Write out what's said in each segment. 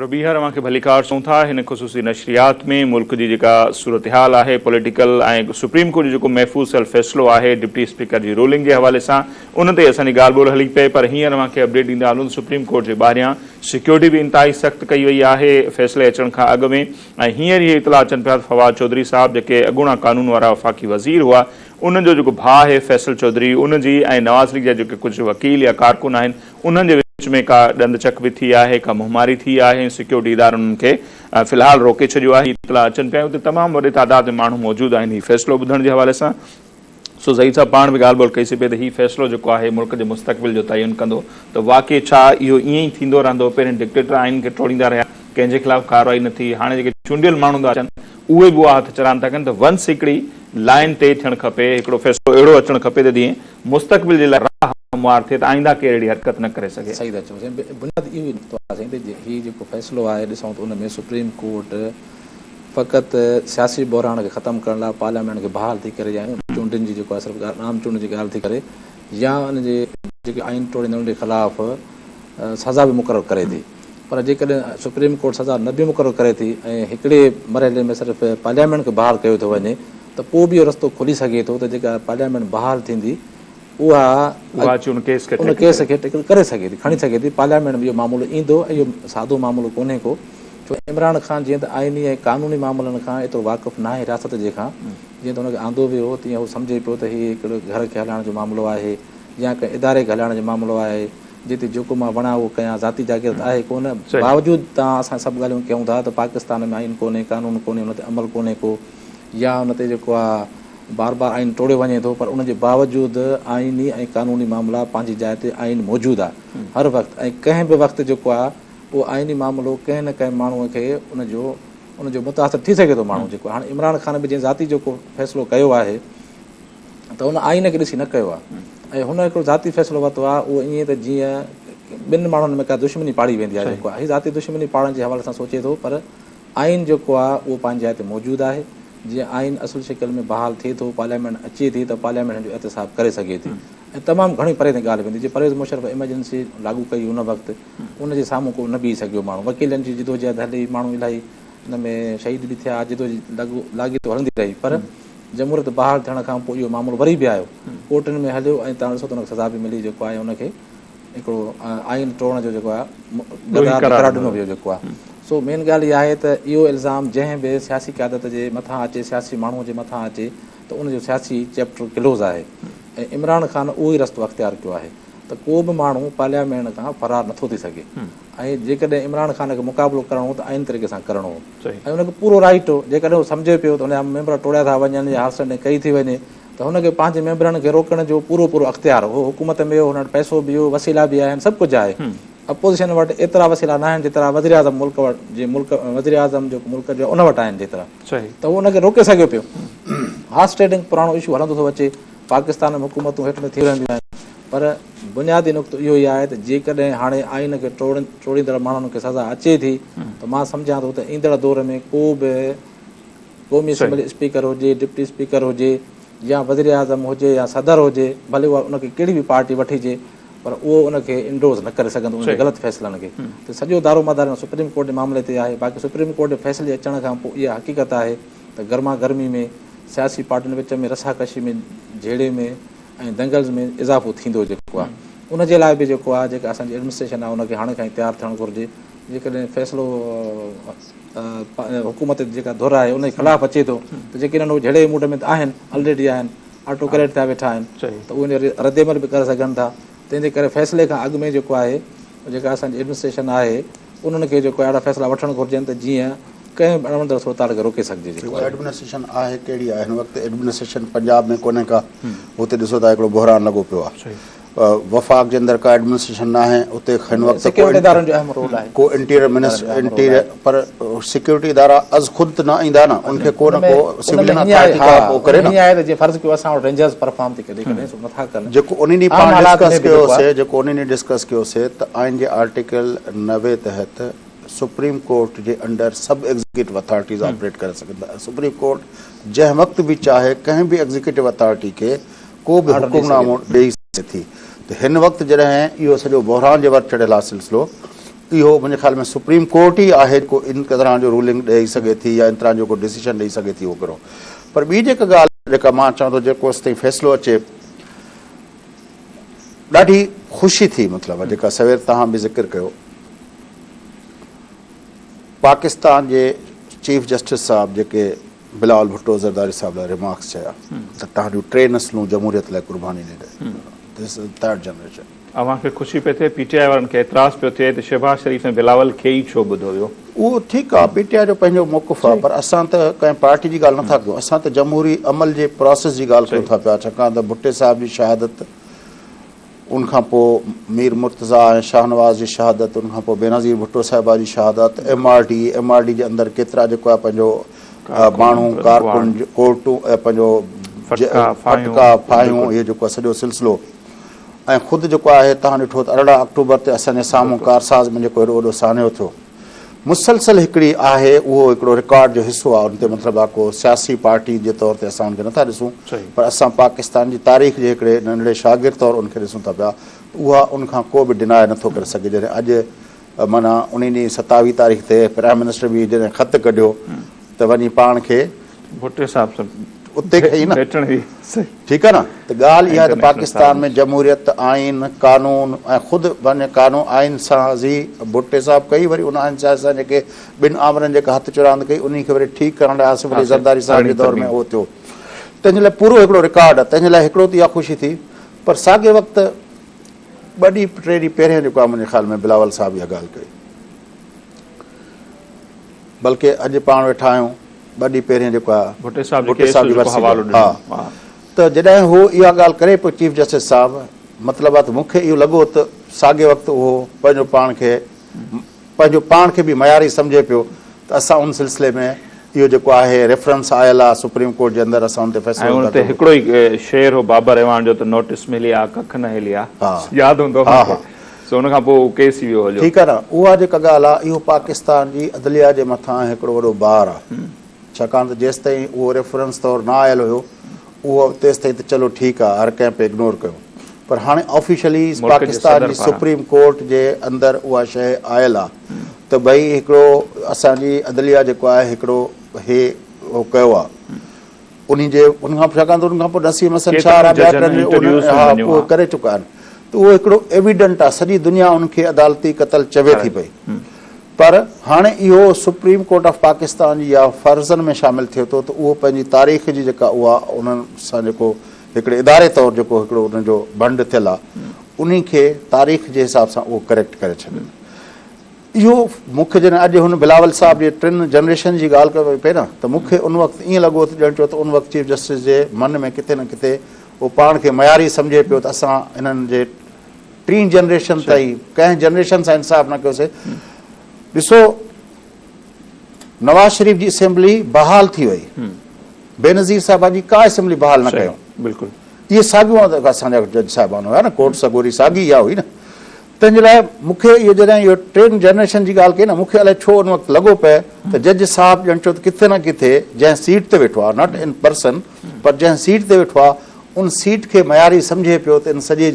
ربيعه اوهان کي ڀليڪار سون ٿا هن خصوصي نشريات ۾ ملڪ جي جيڪا صورتحال آهي پوليٽيڪل ۽ سپريم ڪورٽ جو جيڪو محفوظ ٿيل فيصلو آهي ڊپٽي اسپيڪر جي رولنگ جي حوالي سان ان تي اسان جي ڳالهه ٻولهه هلي پئي پر هينئر اوهان کي اپڊيٽ ڏيندا هلون ته سپريم ڪورٽ جي ٻاهريان سيڪيورٽي به انتهائي سخت ڪئي وئي آهي فيصلي اچڻ کان اڳ ۾ ۽ هينئر اهي اطلاع اچن پيا ته فواد چوڌري صاحب جيڪي اڳوڻا قانون وارا وفاقي وزير هئا انهن جو جيڪو ڀاء آهي فيصل چوڌري ان جي ۽ نواز ليگ جا جيڪي ڪجهه وڪيل يا ڪارڪن آهن انهن جي وچ ۾ ڪا ڏند چڪ به ٿي آهي ڪا منهن ماري ٿي آهي ۽ سيڪيورٽي ادارن انهن کي في الحال روڪي ڇڏيو آهي. اطلاع اچن پيا اتي تمام وڏي تعداد ۾ ماڻهو موجود آهن هي فيصلو ٻڌڻ جي حوالي سان سو زهير صاحب پاڻ به ڳالهه ٻولهه ڪئي سي پئي ته هي فيصلو جيڪو آهي ملڪ جي مستقبل جو تعين ڪندو ته واقعي ڇا اهو ائين ئي ٿيندو رهندو پهرين ڊڪٽيٽر آئين کي ٽوڙيندا رهيا ڪنهن جي خلاف ڪارروائي نه ٿي هاڻي جيڪي چونڊيل ماڻهو ٿا اچن اهي به اها هٿ چراند ٿا ڪن ته ونس هڪڙي لائين طئي ٿيڻ کپي، هڪڙو فيصلو اهڙو اچڻ کپي ته جيئن مستقبل جي لاء راهه هموار ٿئي ته آئنده ڪير اهڙي حرڪت نه ڪري سگهي. صحيح ٿا چئو سائين بنياد اهو ئي نقطو آهي سائين ته هي جيڪو فيصلو آهي ڏسون ته ان ۾ سپريم ڪورٽ فقط سياسي بحران کي ختم ڪرڻ لاء پارليامينٽ کي بحال ٿي ڪري يا چونڊن جي جيڪو آهي صرف ڳالهه عام چونڊن جي ڳالهه ٿي ڪري يا ان جي جيڪي آئين ٽوڙيندڙن جي خلاف سزا به مقرر ڪري ٿي. پر جيڪڏهن سپريم ڪورٽ سزا نه به مقرر ڪري ٿي ۽ هڪڙي مرحلي ۾ صرف پارليامينٽ کي بحال ڪيو ٿو وڃي ته پوء به اهو رستو کلي سگهي ٿو ته جيڪا پارليامينٽ بحال ٿيندي اها اچ ان ڪيس کي ان ڪيس کي ٽيڪل ڪري سگهي ٿي کڻي سگهي ٿي پارليامينٽ ۾ اهو معاملو ايندو ۽ اهو سادو معاملو ڪونهي ڪو ڇو عمران خان جيئن ته آئيني ۽ قانوني معاملن کان ايترو واقف ناهي رياست جي کان جيئن ته ان کي آندو ويو هو تيئن هو سمجهي پيو ته هي هڪڙو گهر کي هلائڻ جو معاملو آهي يا ڪنهن اداري کي هلائڻ جو معاملو آهي جتي جيڪو مان وڻان اهو ڪيان، ذاتي جاگير ته آهي ڪونه، باوجود تان اسان سڀ ڳالهيون ڪيون ٿا ته پاڪستان ۾ آئين ڪونهي، قانون ڪونهي، ان تي عمل ڪونهي ڪو يا ان تي جيڪو آ بار بار آئين ٽوڙيو وڃي ٿو پر ان جي باوجود آئيني ۽ قانوني معاملا پنهنجي جاء تي آئين موجود آ هر وقت ۽ ڪنهن به وقت جيڪو آ اهو آئيني معاملو ڪنهن نه ڪنهن ماڻهو کي ان جو ان جو متاثر ٿي سگهي ٿو ماڻهو جيڪو هاڻي عمران خان به جنهن ذاتي جيڪو فيصلو ڪيو آهي ته ان آئين کي ڏسي نه ڪيو آهي ۽ هن هڪڙو ذاتي فيصلو ورتو آهي اهو ائين ته جيئن ٻن ماڻهن ۾ ڪا دشمني پاڙي ويندي آهي جيڪو آهي هي ذاتي دشمني پاڙڻ جي حوالي سان سوچي ٿو پر آئين جيڪو آهي اهو پنهنجي جاء تي موجود آهي جيئن آئين اصل شڪل ۾ بحال ٿئي ٿو پارليامينٽ اچي ٿي ته پارليامينٽ هن جو احتساب ڪري سگهي ٿي ۽ تمام گهڻي پري تائين ڳالهه ويندي جي پرويز مشرف ايمرجنسي لاڳو ڪئي ان وقت ان جي سامهون ڪو نه بيهي سگهيو ماڻهو وڪيلن جي جدوجهد هلي ماڻهو الاهي ان ۾ شهيد به ٿيا جدوجهد لاڳيتو هلندي رهي پر جمهوريت بحال ٿيڻ کان پوء اهو معاملو وري به آيو، ڪورٽن ۾ هليو ۽ تان ڏسو ته ان کي سزا به ملي جيڪو آهي ان کي هڪڙو آئين ٽوڙڻ جو جيڪو آهي گداهه به قرار ڏنو ويو جيڪو آهي. سو مين ڳالهه اها آهي ته اهو الزام جنهن به سياسي قيادت جي مٿان اچي سياسي ماڻهو جي مٿان اچي ته ان جو سياسي چيپٽر ڪلوز آهي ۽ عمران خان اهو ئي رستو اختيار ڪيو آهي ته ڪو به ماڻهو پارليامينٽ کان فرار نٿو ٿي سگهي. ۽ جيڪڏهن عمران خان کي مقابلو ڪرڻو هو ته آئيني طريقي سان ڪرڻو هو ۽ ان کي پورو رائٽ هو جيڪڏهن هو سمجهي پيو ته ان جا ميمبر ٽوڙيا ٿا وڃن يا هارسنڊنگ ڪئي ٿي وڃي ته هن کي پنهنجي ميمبرن کي روڪڻ جو پورو پورو اختيار هو حڪومت ۾ هو هن وٽ پئسو به هو وسيلا به آهن سڀ ڪجهه آهي اپوزيشن وٽ ايترا وسيلا ناهن جيترا وزيراعظم ملڪ وٽ جي ملڪ وزيراعظم جيڪو ملڪ جو ان وٽ آهن جيترا ته هو ان کي روڪي سگهيو پيو هارسٽيڊنگ پراڻو اشو هلندو ٿو اچي پاڪستان ۾ حڪومتون هيٺ مٿي رهنديون آهن پر بنيادي نقطو اهو ئي آهي ته جيڪڏهن هاڻي آئين کي ٽوڙيندڙ ماڻهن کي سزا اچي ٿي ته مان سمجهان ٿو ته ايندڙ دور ۾ ڪو به قومي اسيمبلي اسپيڪر هجي ڊپٽي اسپيڪر هجي يا وزيراعظم هجي يا صدر هجي ڀلي اها ان کي ڪهڙي به پارٽي وٺجي پر اهو ان کي انڊورس نه ڪري سگهندو ان جي غلط فيصلن کي ته سڄو دارومدار هن سپريم ڪورٽ جي معاملي تي آهي باقي سپريم ڪورٽ جي فيصلي اچڻ کان پوء اها حقيقت آهي ته گرما گرمي ۾ سياسي پارٽين وچ ۾ رسا ڪشي ۾ جهيڙي ۾ ۽ دنگلز ۾ اضافو ٿيندو جيڪو آهي ان جي لاء به جيڪو آهي جيڪا اسان جي ايڊمنسٽريشن آهي ان کي هاڻي کان ئي تيار ٿيڻ گهرجي جيڪڏهن فيصلو حڪومت جيڪا ڌر آهي ان جي خلاف اچي ٿو ته جيڪڏهن اهو جهيڙي جي موڊ ۾ آهن آلريڊي آهن آٽو ڪريٽ ٿيا ويٺا آهن ته اهو رد عمل به ڪري سگهن ٿا تنهن جي ڪري فيصلي کان اڳ ۾ جيڪو آهي جيڪا اسان جي ايڊمنسٽريشن آهي انهن کي جيڪو اهڙا فيصلا وٺڻ گهرجن ته جيئن ڪنهن به اڻوڻندڙ صورتحال کي روڪي سگهجي جيڪو آهي. ايڊمنسٽريشن آهي ڪهڙي آهي هن وقت ايڊمنسٽريشن پنجاب ۾ ڪونهي ڪا هتي ڏسو ته هڪڙو بحران لڳو پيو آهي وفاق جي اندر ڪا ايڊمنسٽريشن ناهي هتي هن وقت ڪو انٽيريئر منسٽر پر سيڪيورٽي ادارا از خود ته نه ايندا نه ان کي ڪو نه ڪو سولين اٿارٽي ها ها ڪري نه. ان ۾ هي آهي ته جي فرض ڪيو اسان وٽ رينجرز پرفارم ٿي ڪڏهن ڪڏهن سو نٿا ڪن. جيڪو انهي ڏينهن پاڻ ڊسڪس ڪيو سي جيڪو انهي ڏينهن ڊسڪس ڪيو سي ته آئين جي آرٽيڪل نوي تحت سپريم ڪورٽ جي انڊر سڀ ايگزيڪيوٽو اٿارٽيز آپريٽ ڪري سگهن ٿا سپريم ڪورٽ جنهن وقت به چاهي ڪنهن به ايگزيڪيوٽو اٿارٽي کي ڪو به حڪم نامو ڏيئي سگهي ٿي ته هن وقت جڏهن اهو سڄو بحران جي ور چڙهيل آ سلسلو اهو منهنجي خيال ۾ سپريم ڪورٽ ئي آهي جيڪو ان طرح جو رولنگ ڏئي سگهي ٿي يا ان طرح جو ڪو ڊسيشن ڏئي سگهي ٿي وغيره پر ٻي جيڪا ڳالهه جيڪا مان چوان ٿو جيڪو ايستائين فيصلو اچي ڏاڍي خوشي ٿي مطلب جيڪا سوير توهان به ذڪر ڪيو پاڪستان جي چيف جسٽس صاحب جيڪي بلاول ڀٽو زرداري صاحب لاء ريمارڪس چيا ته تهان جون ٽي نسلون جمهوريت لاء قرباني ڏيندي ٿرڊ جنريشن اوهان کي خوشي پئي ٿئي پي ٽي آء وارن کي اعتراض پيو ٿئي ته شهباز شريف ۽ بلاول کي ئي ڇو ٻڌو ويو. اهو ٺيڪ آ پي ٽي آء جو پنهنجو موقف آ پر اسان ته ڪنهن پارٽي جي ڳالهه نٿا ڪيون اسان ته جمهوري عمل جي پراسيس جي ڳالهه ڪيون ٿا پيا ڇاڪاڻ ته ڀٽي صاحب جي شهادت ان کان پو مير مرتضيٰ ۽ شاهنواز جي شهادت ان کان پو بينظير ڀٽو صاحبه جي شهادت M R D M R D جي اندر ڪيترا جيڪو آ پنهنجو ماڻهو ڪارڪن ڪورٽون پنهنجو ڦٽڪا ڦاهيون اهي جيڪو آ سڄو سلسلو ۽ خود جيڪو آهي توهان ڏٺو ته ارڙهن آڪٽوبر تي اسان جي سامهون ڪارساز ۾ جيڪو هيڏو وڏو سانحو ٿيو مسلسل هڪڙي آهي اهو هڪڙو رڪارڊ جو حصو آهي ان تي مطلب آهي ڪو سياسي پارٽي جي طور تي اسان ان کي نٿا ڏسون پر اسان پاڪستان جي تاريخ جي هڪڙي ننڍڙي شاگرد طور ان کي ڏسون ٿا پيا ته اها ان کان ڪو به ڊناء نٿو ڪري سگهي جڏهن اڄ معنيٰ انهي ڏينهن ستاويهه تاريخ تي پرائيم منسٽر به جڏهن خط ڪڍيو ته وڃي پاڻ کي ڀٽي صاحب سان اتي کئي نه ڀيٽڻ هئي ٺيڪ آهي نه ته ڳالهه اها آهي ته پاڪستان ۾ جمهوريت آئين قانون ۽ خود پنهنجي قانون آئين سازي ڀٽي صاحب ڪئي وري ان آئين سازي سان جيڪي ٻن آمرن جيڪا هٿ چراند ڪئي انهي کي وري ٺيڪ ڪرڻ لاء آصف علي زرداري صاحب جي دور ۾ اهو ٿيو تنهنجي لاء پورو هڪڙو رڪارڊ تنهنجي لاء هڪڙو ته اها خوشي ٿي پر ساڳي وقت ٻه ڏينهن ٽي ڏينهن پهريان جيڪو آهي منهنجي خيال ۾ بلاول صاحب اها ڳالهه ڪئي بلڪه اڄ پاڻ ويٺا آهيون ٻه ڏينهن پهريان جيڪو آهي ڀٽي صاحب جي ڀٽي صاحب جي ڪيس جو ورسي حوالو جو. ڏنو. ها. ها. ته جڏهن هو اها ڳالهه ڪري پيو چيف جسٽس صاحب مطلب آهي ته مون کي اهو لڳو ته ساڳئي وقت اهو پنهنجو پاڻ کي پنهنجو پاڻ کي به معياري سمجهي پيو ته اسان ان سلسلي ۾ اهو جيڪو آهي ريفرنس آيل آهي سپريم ڪورٽ جي اندر اسان ان تي فيصلو ۽ ان تي هڪڙو ئي شعر هو بابر اعواڻ جو ته نوٽس ملي آ ڪک نه هلي آ ياد هوندو اوهان کي سو ان کان پوء هو ڪيس ٿي ويو هو جو. ٺيڪ آهي نه اها جيڪا ڳالهه آهي اهو پاڪستان جي عدليه جي مٿان هڪڙو وڏو بار آهي ڇاڪاڻ ته جيستائين اهو ريفرنس طور نه آيل هيو اهو تيستائين ته چلو ٺيڪ آهي هر ڪنهن پئي اگنور ڪيو پر هاڻي آفيشلي پاڪستان جي سپريم ڪورٽ جي اندر اها شيء آيل آهي ته ڀئي هڪڙو اسان جي عدليه جيڪو آهي هڪڙو هي اهو ڪيو آهي انهي جي ان کان ڇاڪاڻ ته ان کان پوء نسيم حسن شاهه ۽ ٻيا ٽن اهو ڪري چڪا آهن ته اهو هڪڙو ايويڊنٽ آهي سڄي دنيا ان کي عدالتي قتل چوي ٿي پئي پر هاڻي اهو سپريم ڪورٽ آف پاڪستان جي يا فرضن ۾ شامل ٿئي ٿو ته اهو پنهنجي تاريخ جي جيڪا اها انهن سان جيڪو هڪڙي اداري طور جيڪو هڪڙو انهن جو ڀنڊ ٿيل آ انهي کي تاريخ جي حساب سان اهو ڪريڪٽ ڪري ڇڏين اهو مون کي جڏهن اڄ هن بلاول صاحب جي ٽن جنريشن جي ڳالهه ڪئي پئي نه ته مون کي ان وقت ائين لڳو ته ڄڻ چو ته ان وقت چيف جسٽس جي من ۾ ڪٿي نه ڪٿي اهو پاڻ کي معياري سمجهي پيو ته اسان هنن جي ٽين جنريشن تائين ڪنهن جنريشن سان انصاف نه ڪيو سي ڏسو نواز شريف جي اسيمبلي بحال ٿي وئي بينظير صاحب جي ڪا اسيمبلي بحال نه ڪيو بلڪل اهي ساڳيو اسان جا جج صاحبان هيا نه ڪورٽ سڳوري ساڳي اها هئي نه تنهنجي لاء مونکي اهو جڏهن اهو ٽين جنريشن جي ڳالهه ڪئي نه مونکي الائي ڇو ان وقت لڳو پئي ته جج صاحب ڄڻ ڇو ته ڪٿي نه ڪٿي جنهن سيٽ تي ويٺو آهي ناٽ ان پرسن پر جنهن سيٽ تي ويٺو آهي ان سيٽ کي معياري سمجهي پيو ته ان سڄي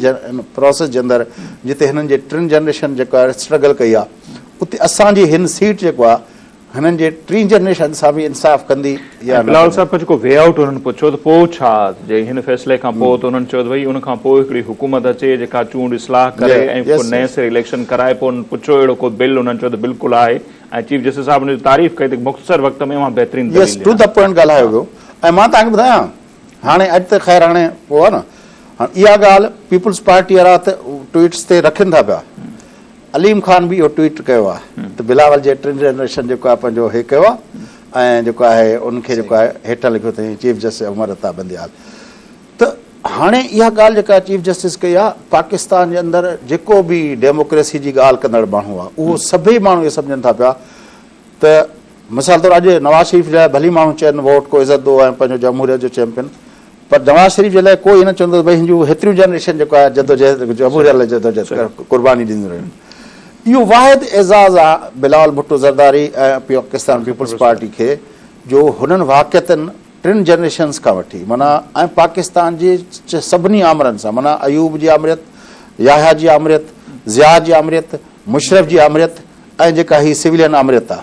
پراسيس جي اندر جتي هنن جي ٽن جنريشن جيڪا اسٽرگل ڪئي آهي اتي اسان جي هن سيٽ جيڪو آهي هنن جي ٽين جنريشن سان به انصاف ڪندي يا نه بلاول صاحب کان جيڪو وي آئوٽ هنن پڇيو ته پوء ڇا جي هن فيصلي کان پوء ته هنن چيو ته ڀئي ان کان پوء هڪڙي حڪومت اچي جيڪا چونڊ اصلاح ڪري ۽ پوء نئين سري اليڪشن ڪرائي پوء هنن پڇيو اهڙو ڪو بل هنن چيو ته بلڪل آهي ۽ چيف جسٽس صاحب ان جي تعريف ڪئي ته مختصر وقت ۾ اوهان بهترين دليل ڏنا. ۽ مان توهان کي ٻڌايان هاڻي اڄ ته خير هاڻي اهو آهي نه هاڻي اها ڳالهه پيپلز پارٽي وارا ته ٽوئيٽس تي رکن ٿا پيا عليم خان به اهو ٽوئيٽ ڪيو آهي ته بلاول جي ٽن جنريشن جيڪو آهي پنهنجو هي ڪيو آهي ۽ جيڪو آهي ان کي جيڪو آهي هيٺ لکيو اٿئي چيف جسٽس عمر عطا بنديال ته هاڻي اها ڳالهه جيڪا چيف جسٽس ڪئي آهي پاڪستان جي اندر جيڪو به ڊيموڪريسي جي ڳالهه ڪندڙ ماڻهو آهي اهو سڀئي ماڻهو اهو سمجهن ٿا پيا ته مثال طور اڄ نواز شريف جي لاء ڀلي ماڻهو چين ووٽ ڪو عزت ڏو ۽ پنهنجو جمهوريت جو چيمپيئن پر نواز شريف جي لاء ڪو هي نه چوندو ته ڀئي هنجون هيتريون جنريشن جيڪو آهي جدوجهد جمهوريت لاء جدوجهد قرباني ڏينديون رهيون اهو واحد اعزاز آهي بلاول ڀٽو زرداري ۽ پاڪستان پيپلز پارٽي کي جو هنن واقعتن ٽن جنريشنز کان وٺي معنيٰ ۽ پاڪستان جي سڀني آمرن سان معنيٰ ايوب جي آمريت يحيٰ جي آمريت ضياء جي آمريت مشرف جي آمريت ۽ جيڪا هي سويلين آمريت آ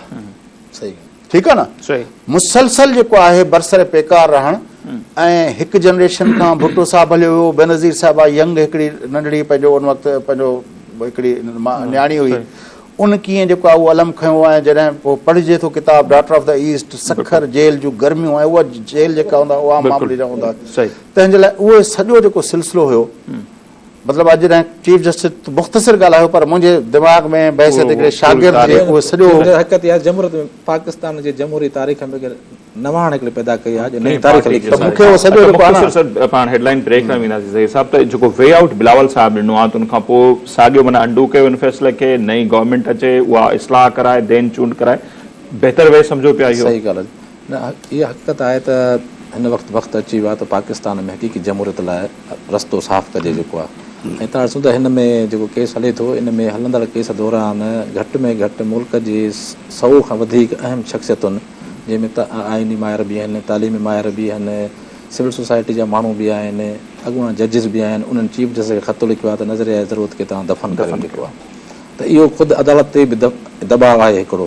ٺيڪ آ نه مسلسل جيڪو آهي برسر پيڪار رهڻ ۽ هڪ جنريشن کان ڀٽو صاحب هليو ويو بينظير صاحب آ ينگ هڪڙي ننڍڙي پنهنجو ان وقت پنهنجو هڪڙي نياڻي هئي ان ڪيئن جيڪو آ اهو علم کنيو ۽ جڏهن پوء پڙهجي ٿو ڪتاب daughter of the east Sukkur jail جون گرميون ۽ اها جيل جيڪا هوندا عوام معاملي جا هوندا تنهن جي لاء اهو سڄو جيڪو سلسلو هيو مطلب اڄ جڏهن چيف جسٽس تون مختصر ڳالهايو پر منهنجي دماغ ۾ بحيثيت هڪڙي شاگرد جي اهو سڄو. جنهن حقيقت يا جمهوريت ۾ پاڪستان جي جمهوري تاريخ ۾ هڪ نواڻ هڪڙي پيدا ڪئي آهي جو نئين تاريخ لکي ته مون کي اهو سڄو جيڪو آهي نه. پاڻ هيڊلائين بريڪ ۾ وينداسين ظهير صاحب ته جيڪو وي آئوٽ بلاول صاحب ڏنو آهي ته ان کان پوء ساڳيو معنيٰ انڊو ڪيو ان فيصلي کي نئين گورنمينٽ اچي اها اصلاح ڪرائي دين چونڊ ڪرائي بهتر وي سمجهو پيا اهو. صحيح ڳالهه. اها حقيقت آهي ته هن وقت وقت اچي ويو آهي ته پاڪستان ۾ حقيقي جمهوريت لاء رستو صاف ڪجي جيڪو آهي ۽ تان ڏسون ته هن ۾ جيڪو ڪيس هلي ٿو ان ۾ هلندڙ ڪيس دوران گهٽ ۾ گهٽ ملڪ جي سئو کان وڌيڪ اهم شخصيتن جنهن ۾ آئيني ماهر به آهن تعليمي ماهر به آهن سول سوسائٽي جا ماڻهو به آهن اڳواڻ ججز به آهن انهن چيف جسٽس کي خط لکيو آهي ته نظريه ضرورت کي توهان دفن ڪريو جيڪو آهي ته اهو خود عدالت تي به دٻاء آهي هڪڙو